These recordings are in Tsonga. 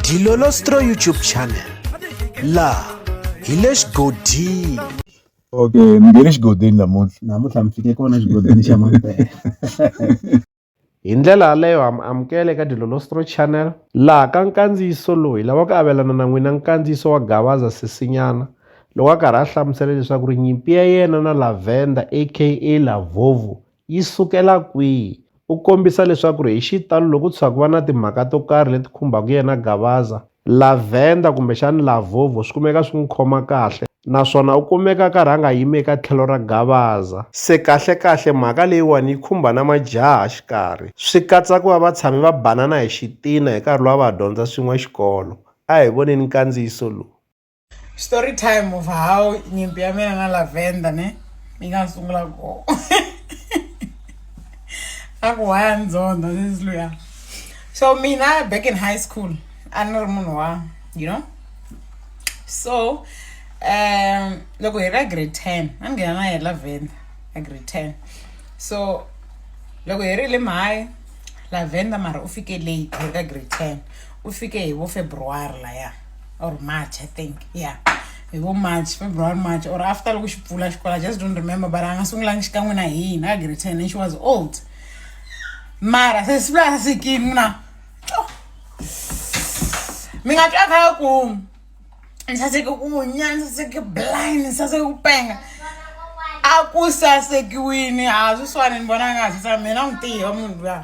Dilolostro YouTube channel la hi le xigodini okay mi nge le xigodini namuntlha namuntlha mi fike kona xigodini xa mampela hi ndlela yaleyo ha mi amukela eka dilolostro channel laha ka nkandziyiso lowu hi lava ku avelana na n'wina nkandziyiso wa gavaza sisinyana loko a karhi a hlamusela leswaku ri nyimpi ya yena na lavenda aka lavovo yi sukela kwihi? U kombisa leswaku ri hi xitalo loko ku tshuka ku va na timhaka to karhi leti khumbaka yena Gavaza, Lavender kumbexana Lavovo swi kumeka swi n'wi khoma kahle naswona u kumeka a karhi a nga yimi eka tlhelo ra Gavaza. Se kahle-kahle mhaka leyiwani yi khumba na majaha xikarhi, swi katsa ku va va tshame va banana hi xitina hi nkarhi lowu a va ha dyondza swin'we xikolo. A hi voneni nkandziyiso lowu. story time of how nyimpi ya mina na lavender ne yi nga sungula kona a ku waya ndzondho since luya so mina back in high school a ni ri munhu wa you know so um loko hi ra grade ten a ni nghena na ye lavender a grade ten so loko hi ri le mahayi lavender mara u fike late hi ri ka grade ten u fike hi vo february laya or march i think yeah hi vo march february march or after loko xi pfula xikolo i just don't remember but a nga sungulangi xikan'we na hina a grade ten and she was old mara se siku la sasekini na mi nga twa kha ku ni saseke ku nya ni saseke blind ni saseke ku penga a ku sasekiwini a swi swani ni vona nga swi sa mina n'wi tihi wa munhu luya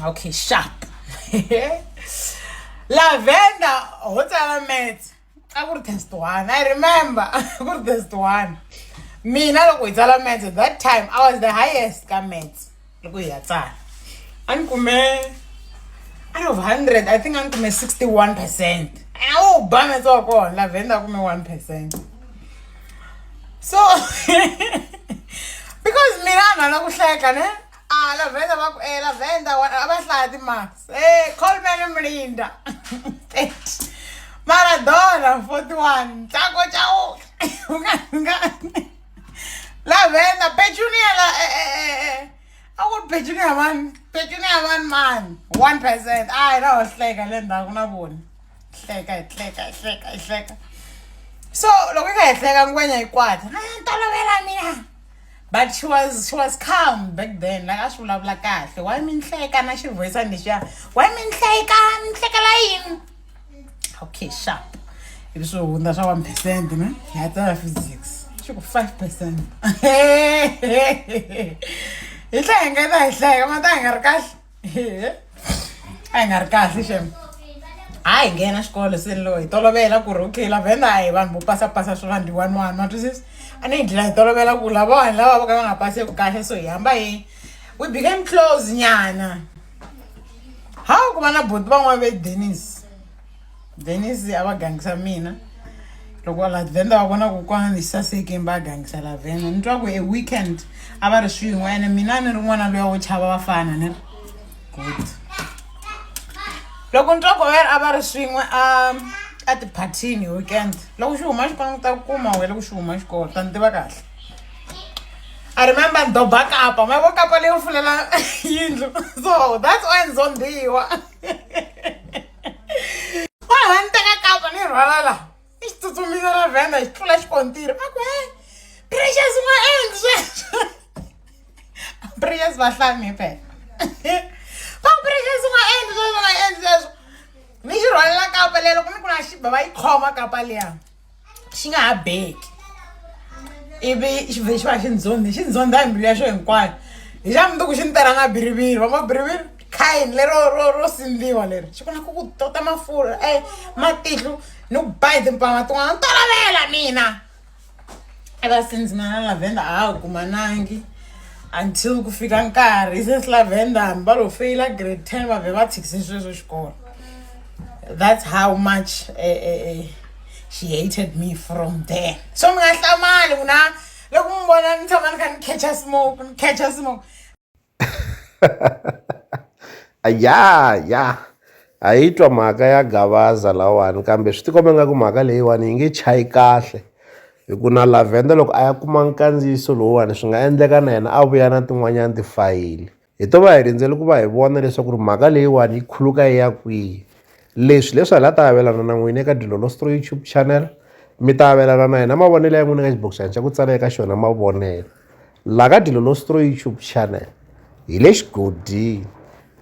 okay sharp lavender ho tsala mats a ku ri test one i remember ku ri test one mina loko hi tsala mats at that time i was the highest ka mats loko hi ya tsala a ni kume out of 100 i think a ni kume 61 percent a wu ba mats wa kona lavender a kume 1 percent so because mina a ni lava ku hleka ne A Lavenda va ku eh Lavenda wa a va hlaya timarks. Eh Coleman Mlinda 30. Maradona 41. Ntlango Chauke u nga nga Lavenda Petunia la eh eh eh eh. A ku ri Petunia mani Petunia mani mani 1%. A hi lawa hleka le ndzhaku na vona. Hleka hi hleka hi hleka hi hleka. So loko yi kha hi hleka ngwenya yi kwata. A ni tolovela mina. but she was she was calm back then like a swi vulavula kahle why mi nhleka na xivoyisani lexiya why mi nhleka mi nhlekela yini okay sharp ivi swi hundza swa one percent ne hi ya tsala physics xi ku five percent hi tlhe hi nga ta hi hleka ma ta hi nga ri kahle a yi nga ri kahle xem a hi nghena xikolo seni lowu hi tolovela ku ri okay lavenda a hi vanhu vo pasapasa swi vanhu one one wa twisisa a ni hi dlina hi tolovela ku lava vanhu lava va ka va nga paseki kahle so hi hamba hi we became close nyana ha ku va na boti van'wana ve denis venisi a va gangisa mina loko lavenda va vona ku kwana ni sasekeni va gangisa lavenda ni twa ku e weekend a va ri swin'we ene mina ni ri n'wana luya wo chava vafana ni ri good loko ni twa ku ver a va ri swin'we a a tiphathini hi weekend loko xi huma xikolo ni ta kuma wena loko xi huma xikolo ta ni tiva kahle I remember Doba Kapa. My work up a little for the yindlu. So that's why it's on the wa ha ni teka kapa ni rhwala la i xi tsutsumisa ra vhenda xi tlula xikontiri va ku he precious ma endli sweswo precious va hlami phela va ku precious ma endli sweswo ma endli sweswo ni xi rhwalela kapa leyi loko ni ku na xiba va yi khoma kapa liya xi nga ha beki ivi xi vhe xi va xi ndzondhi xi ndzondha hi mbilu ya xo hinkwayo hi xa mundzuku xi ni tela nga biriviri va mabiriviri khayini lero ro ro sindliwa leri xi kona ku ku tota mafurha e matihlu ni ku ba hi timpama tin'wana tolovela mina e va since mina lavenda a ha ha kumanangi until ku fika nkarhi since lavenda hambi va lo feyila grade ten va vhe va tshikise sweswo xikolo that's how much uh, uh, she hated me from there so ni nga hlamali ku na loko mi vona ni tshama ni kha ni catcha smoke ni catcha smoke ya ya a yi twa mhaka ya gavaza lawani kambe swi tikombe nga ku mhaka leyiwani yi nge chayi kahle hi ku na lavhenda loko a ya kuma nkandziyiso lowuwani swi nga endleka na yena a vuya na tin'wanyana tifayili Hi to va hi rindzele ku va hi vona leswaku ri mhaka leyiwani yi khuluka yi ya kwihi leswi leswi hi la ta avelana na n'wina eka dilolostro youtube channel mi ta avelana na hina mavonelo ya n'wina ka xibokisana xa ku tsala eka xona mavonelo la ka dilolostro youtube channel hi le xigodini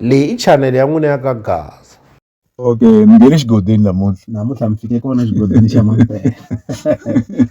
leyi i channel ya n'wina ya ka gaza okay mi nge le xigodini namuntlha namuntlha mi fike kona xigodini xa mampela